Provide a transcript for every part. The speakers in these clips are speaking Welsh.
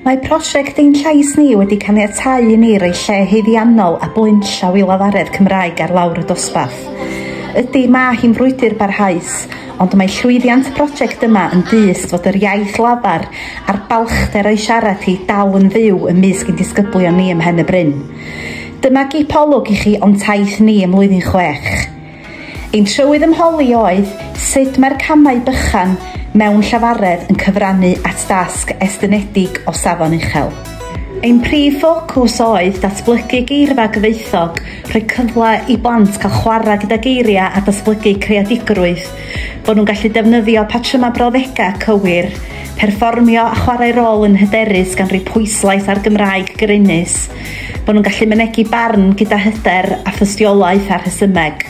Mae prosiect Ein Llais Ni wedi caniatáu i ni roi lle haeddiannol a blaenllaw i lafaredd Cymraeg ar lawr y dosbarth. Ydy, mae hi'n frwydr barhaus, ond mae llwyddiant y prosiect yma yn dyst fod yr iaith lafar a'r balchder o'i siarad hi dal yn fyw ymysg ein disgyblion ni ym Mhen-y-bryn. Dyma gip olwg i chi o'n taith ni ym Mlwyddyn Chwech. Ein trywydd ymholi oedd sut mae'r camau bychan mewn llafaredd yn cyfrannu at dasg estynedig o safon uchel. Ein prif ffocws oedd datblygu geirfa gyfoethog, rhoi cyfle i blant cael chwarae gyda geiriau a datblygu creadigrwydd, bod nhw'n gallu defnyddio patrymau brawddegau cywir, perfformio a chwarae rôl yn hyderus gan roi pwyslais ar Gymraeg grymus. Bod nhw'n gallu mynegi barn gyda hyder a thystiolaeth a rhesymeg,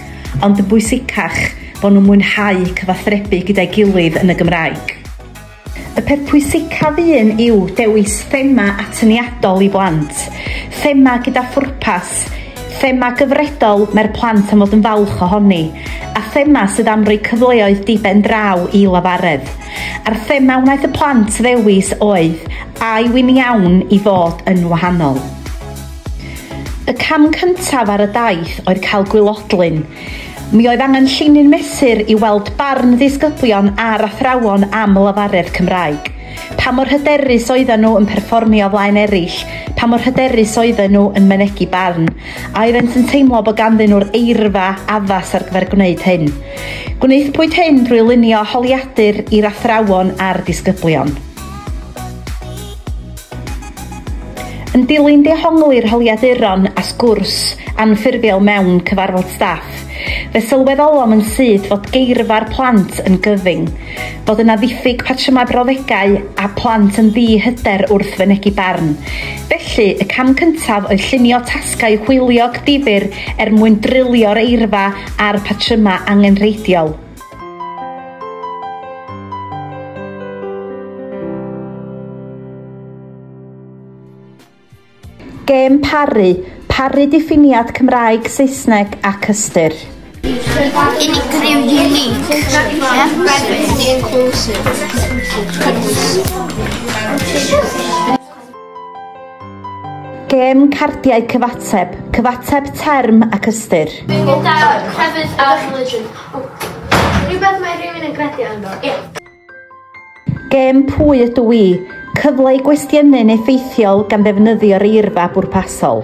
ond yn bwysicach, bod nhw'n mwynhau cyfathrebu gyda'i gilydd yn y Gymraeg. Y peth pwysicaf un yw dewis thema atyniadol i blant, thema gyda phwrpas, thema gyfredol mae'r plant am fod yn falch ohoni, a thema sydd am roi cyfleoedd di-ben-draw i lafaredd. A'r thema wnaeth y plant ddewis oedd A yw'n iawn i fod yn wahanol? Y cam cyntaf ar y daith oedd cael gwilodlun. Mi oedd angen llinyn mesur i weld barn ddisgyblion a'r athrawon am lefaredd Cymraeg. Pa mor hyderus oedden nhw yn perfformio o flaen eraill, pa mor hyderus oedden nhw yn mynegi barn, a oeddent yn teimlo bod ganddyn nhw'r eirfa addas ar gyfer gwneud hyn. Gwnaethpwyd hyn drwy lunio holiadur i'r athrawon a'r disgyblion. Yn dilyn dehongli'r holiaduron a sgwrs anffurfiol mewn cyfarfod staff, fe sylweddolom yn syth fod geirfa'r plant yn gyfyng, fod yna ddiffyg patrymau brawddegau a phlant yn ddi-hyder wrth fynegi barn. Felly, y cam cyntaf oedd llunio tasgau hwyliog difyr er mwyn drilio'r eirfa a'r patrymau angenrheidiol. Gêm paru, paru diffiniad Cymraeg, Saesneg ac ystyr. Unigryw unique. Inclusive. Gêm cardiau cyfateb, cyfateb term ac ystyr. Bingo card, crefydd a religion. Rhywbeth mae rhywun yn credu ynddo. Ie. Gêm pwy ydw i, cyfle i gwestiynu'n effeithiol gan ddefnyddio'r eirfa bwrpasol.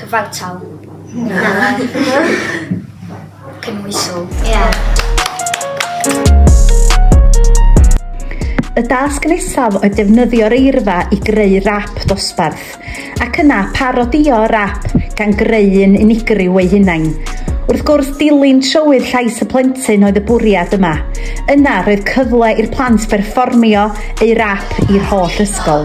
Cyfartal. Na. Cynhwysol. Ie. Yeah. Y dasg nesaf oedd defnyddio'r eirfa i greu rap dosbarth, ac yna parodio rap gan greu'n unigryw ei hunain. Wrth gwrs, dilyn trywydd llais y plentyn oedd y bwriad yma. Yna, roedd cyfle i'r plant berfformio eu rap i'r holl ysgol.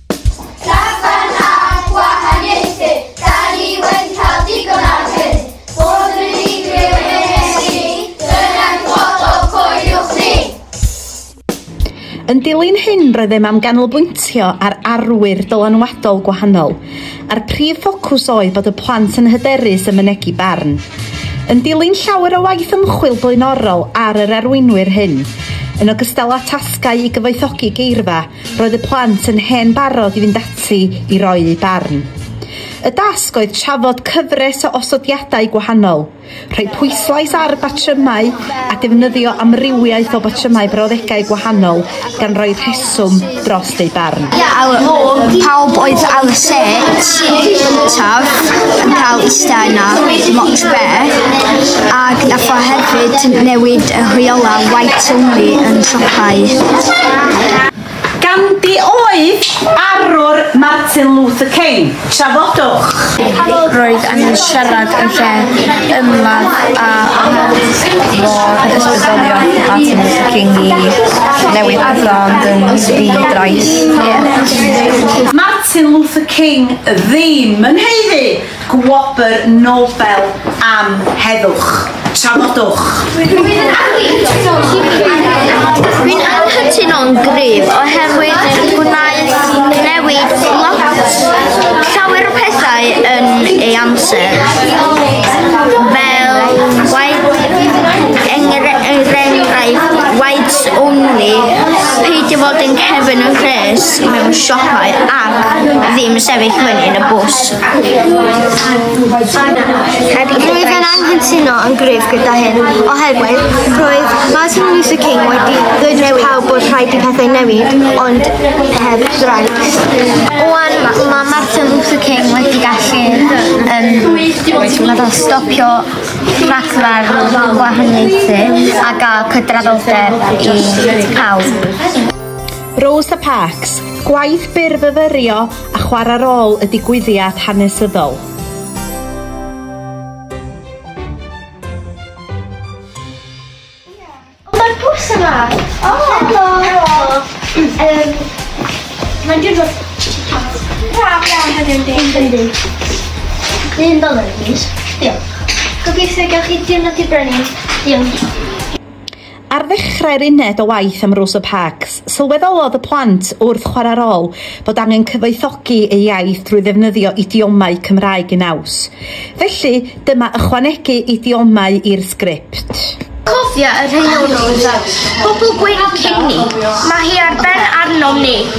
Yn dilyn hyn roeddem am ganolbwyntio ar arwyr dylanwadol gwahanol, a'r prif ffocws oedd bod y plant yn hyderus yn mynegi barn. Yn dilyn llawer o waith ymchwil blaenorol ar yr arweinwyr hyn, yn ogystal â tasgau i gyfoethogi geirfa, Roedd y plant yn hen barod i fynd ati i roi eu barn. Y dasg oedd trafod cyfres o osodiadau gwahanol, rhoi pwyslais ar batrymau a defnyddio amrywiaeth o batrymau brawddegau gwahanol gan roi rheswm dros eu barn. Pawb oedd ar y set gyntaf yn cael eistedd yna, Moch Bear, ac nath o hefyd newid y rheolau white only yn siopau. Ganddi oedd arwr Martin Luther King. Trafodwch. Roedd angen siarad yn lle ymladd a anghofio'r ysbrydolion Martin Luther King i newid pethau ond yn ddi-drais. Martin Luther King ddim yn haeddu Gwobr Nobel am Heddwch. Trafodwch. Dwi'n anghytuno'n gryf oherwydd gwnaeth newid lot, llawer o pethau yn ei amser. Fel, er enghraifft, whites only, peidio fod yn cefn y rhes mewn siopau ac ddim sefyll fyny yn y bws. Rwyf yn anghytuno yn gryf gyda hyn, oherwydd roedd Martin Luther King wedi dweud wrth pawb bod rhaid i pethau newid, ond heb drais. Oan, mae Martin Luther King wedi gallu um, stopio rhaglar gwahaniaethu a gael cydraddoldeb i pawb. Rosa Parks, gwaith byr fyfyrio a chwarae rôl y digwyddiad hanesyddol. Dyn doler plîs. Diolch. Gobeithio gewch chi diwrnod dibynnu. Diolch. Ar ddechrau'r uned o waith am Rosa Parks, sylweddolodd y plant wrth chwarae rôl fod angen cyfoethogi eu iaith drwy ddefnyddio idiomau Cymraeg yn naws. Felly, dyma ychwanegu idiomau i'r sgript. Cofia y rheolwr, pobl gwyn Cini, mae hi ar ben arnom ni.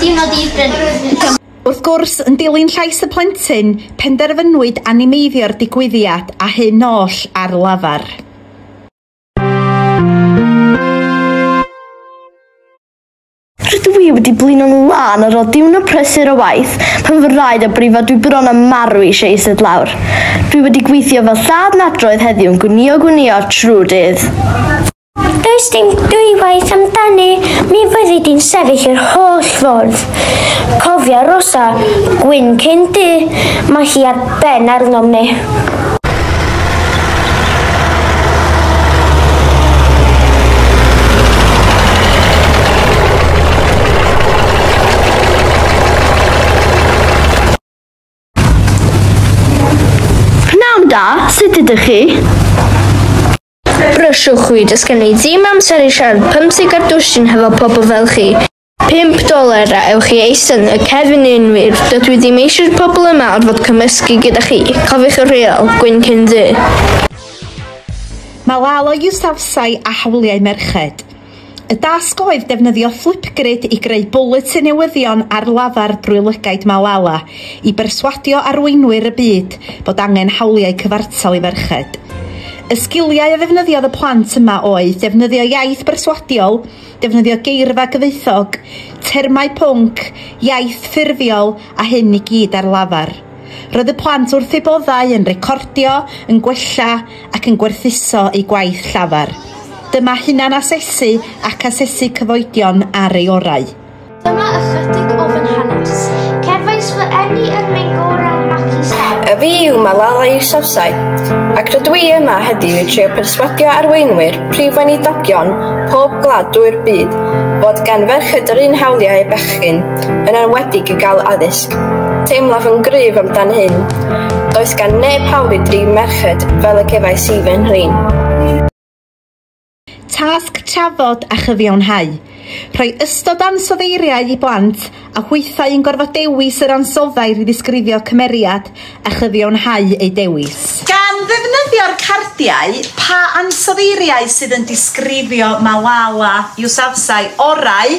Dim ond un frenin. Wrth gwrs, yn dilyn llais y plentyn, penderfynwyd animeiddio'r digwyddiad a hyn oll ar lafar. Rydw i wedi blino'n lân ar ôl diwrnod prysur o waith pan fy rhaid a brifo dwi bron a marw eisiau ised lawr. Dwi wedi gweithio fel lladd nadroedd heddiw'n gwnïo gwnïo trwy'r dydd. Does dim dwywaith amdani, mi fyddi di'n sefyll yr holl ffordd. Cofia Rosa, gwyn cyn du, mae hi ar ben arnom ni. Pnawn da, sut ydych chi? Brysio chwi, does gen i ddim amser i siarad pymtheg ar dwsin hefo pobl fel chi. Pump doler a ewch i eistedd yn y cefn yn wir, dydw i ddim eisiau'r pobl yma orfod cymysgu gyda chi, cofiwch y rheol, gwyn cyn ddu. Mae Lalo Yousafzai a hawliau merched. Y dasg oedd defnyddio Flipgrid i greu bwletin newyddion ar lafar drwy lygaid Malala i berswadio arweinwyr y byd bod angen hawliau cyfartal i ferched. Y sgiliau a ddefnyddiodd y plant yma oedd defnyddio iaith berswadiol, defnyddio geirfa gyfoethog, termau pwnc, iaith ffurfiol a hyn i gyd ar lafar. Roedd y plant wrth eu boddau yn recordio, yn gwella ac yn gwerthuso eu gwaith llafar. Dyma hunan-asesu ac asesu cyfoedion ar ei orau. Dyma ychydig o fy nhanes. Cefais fy eni yn mein gorau macis heb. A fi yw Malala Yousafzai, ac rydw i yma heddiw i trio perswadio arweinwyr prif weinidogion pob gwlad drwy'r byd fod gan ferched yr un hawliau â bechgyn. yn enwedig i gael addysg. Teimlaf yn gryf amdan hyn. Does gan neb hawl i drin merched fel y cefais i fy nhrin. Tasg trafod a chyfiawnhau. Rhoi ystod ansoddeiriau i blant a hwythau yn gorfod dewis yr ansoddair i ddisgrifio cymeriad a chyfiawnhau eu dewis. Gan ddefnyddio'r cardiau, pa ansoddeiriau sydd yn disgrifio Malala Yousafzai orau?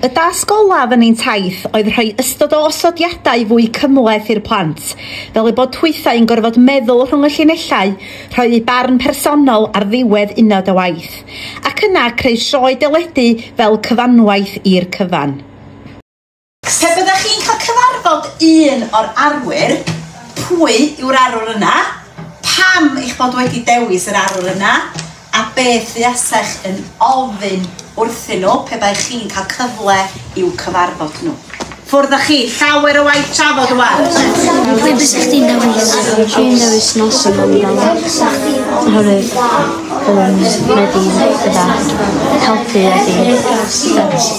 Y dasg olaf yn ein taith oedd rhoi ystod o osodiadau fwy cymhleth i'r plant, fel eu bod hwythau yn gorfod meddwl rhwng y llinellau, rhoi eu barn personol ar ddiwedd uned o waith, ac yna creu sioe deledu fel cyfanwaith i'r cyfan. Pe byddech chi'n cael cyfarfod un o'r arwyr, pwy yw'r arwr yna, pam eich bod wedi dewis yr arwr yna, A beth fuasech yn ofyn wrthyn nhw pe baech chi'n cael cyfle i'w cyfarfod nhw? Ffwrdd â chi, llawer o waith trafod rwan! Pwy fysech chdi'n dewis? Dwi'n dewis Nelson Mandela oherwydd byddwn wedi bydda helpu a fi.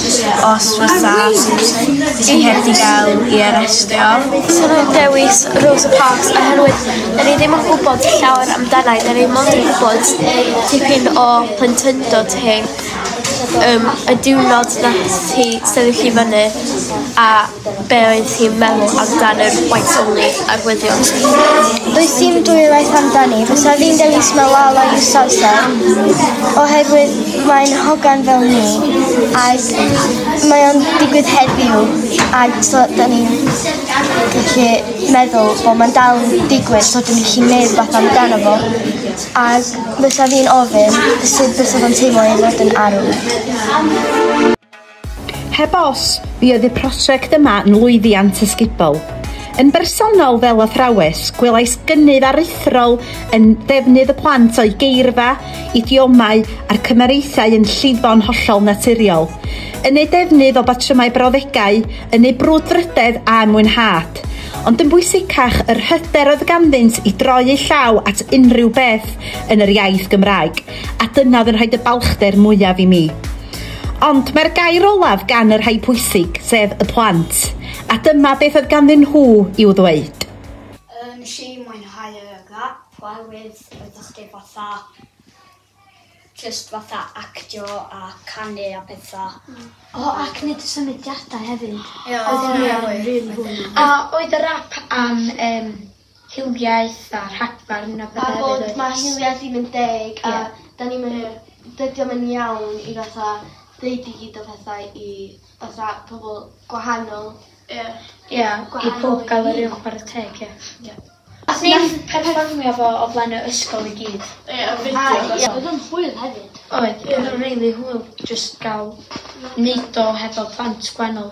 os fysa ti heb 'di ga'l 'i arestio. Swn i'n dewis Rosa Parks oherwydd 'dyn ni ddim yn gwybod llawer amdana i, 'dyn ni mond yn gwybod tipyn o plentyndod hi, yym y diwrnod nath hi sefyll i fyny a be oedd hi'n meddwl amdan yr whites only arwyddion? Does dim dwywaith amdani, fysa fi'n dewis Malala Yousafzai oherwydd mae'n hogan fel ni ac mae o'n digwydd heddiw ac so da ni'n gallu meddwl bod mae'n dal yn digwydd so dyn ni'n gallu neud fath amdano fo ac fysa fi'n ofyn sut fysa fo'n teimlo i fod yn arw. Heb os, mi oedd y prosiect yma yn lwyddiant ysgubol. Yn bersonol fel athrawes, gwelais gynnydd aruthrol yn ddefnydd y plant o'u geirfa, idiomau a'r cymariaethau yn llifo'n hollol naturiol, yn eu defnydd o batrymau brawddegau, yn eu brwdfrydedd a'u mwynhad. Ond yn bwysicach, yr hyder oedd ganddynt i droi eu llaw at unrhyw beth yn yr iaith Gymraeg, a dyna oedd yn rhoid y balchder mwyaf i mi. Ond mae'r gair olaf gan y rhai pwysig, sef y plant, a dyma beth oedd ganddyn nhw i'w ddweud. Wnes i mwynhau y gap oherwydd oeddach chdi fatha jyst fatha actio a canu a petha. O ac neud y symudiadau hefyd. Ie oedd hynna yn rili hwyl. A oedd y rap am yym hiliaeth a rhagfarn a petha hefyd oes? A bod ma hiliaeth ddim yn deg a da ni'm yn dydi o'm yn iawn i fatha deud i gyd o pethau i fatha pobl gwahanol. Ie. Ie i pob ga'l yr un chwara teg ie. Ie. Os ni'n perfformio fo o flaen y ysgol i gyd. Ie a fideo. Odd o'n hwyl hefyd. Oedd. Ie. Odd o'n rili hwyl jyst ga'l neud o hefo plant gwanol.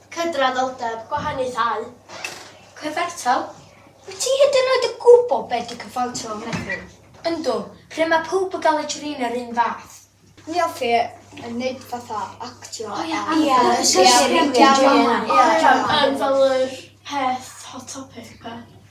Cydraddoldeb, gwahaniaethau, cyfartal? Wyt ti hyd yn oed yn gwybod be ydy cyfartal yn meddwl? Yndw, lle mae pawb yn cael eu trin yr un fath. Ni all chi yn neud fatha actio ar... Ia, yn fel yr peth hot topic 'ma.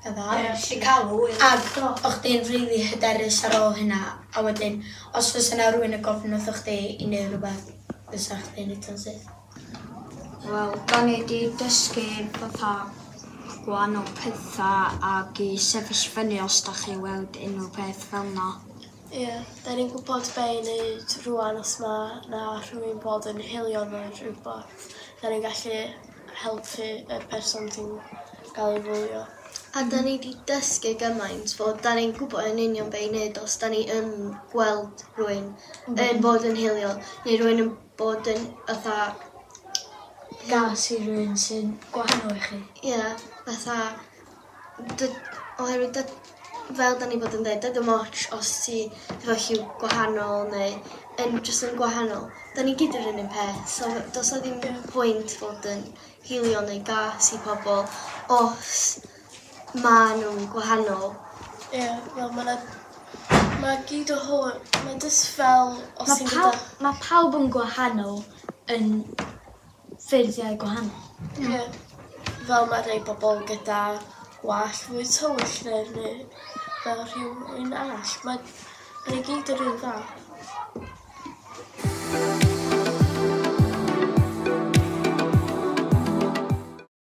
Ag o' chdi'n rili hyderus ar ôl hynna, a wedyn, os fysa 'na rywun yn gofyn wrthoch chdi i neud rwbeth, fysa chdi'n neud o'n syth? Wel, 'dan ni 'di dysgu fatha gwahanol petha ag i sefyll fyny os 'dach chi weld unryw beth fel 'na. Ie, 'dan ni'n gwbod be' i neud rŵan os ma' 'na rhywun bod yn hiliol ne' rwbath, 'dan ni'n gallu helpu yr person sy'n cael ei fwlio. A da ni di dysgu gymaint fod da ni'n gwybod yn union be i wneud os da ni yn gweld rwy'n mm. yn bod yn hilio neu rwy'n yn bod yn fatha gas i rwy'n sy'n gwahanol i chi. Ie, yeah, fatha dy- oherwydd dy- fel 'dan ni bod yn dweud, dydy dim ots os ti efo lliw gwahanol neu yn jyst yn gwahanol. 'Dan ni gyd yr un un peth, so does 'na ddim pwynt fod yn hilio neu gas i pobl os ma' nhw'n gwahanol. Ie, yeah, wel mae 'na... Mae gyd o hwn, mae jyst fel os ti'n gyda... Mae pawb yn gwahanol yn ffeirniau gwahanol. Ie, fel mae rhai pobl gyda gwallt fwy tywyll neu'r neu fel rhywun arall. Mae rhai gyd yr un fath.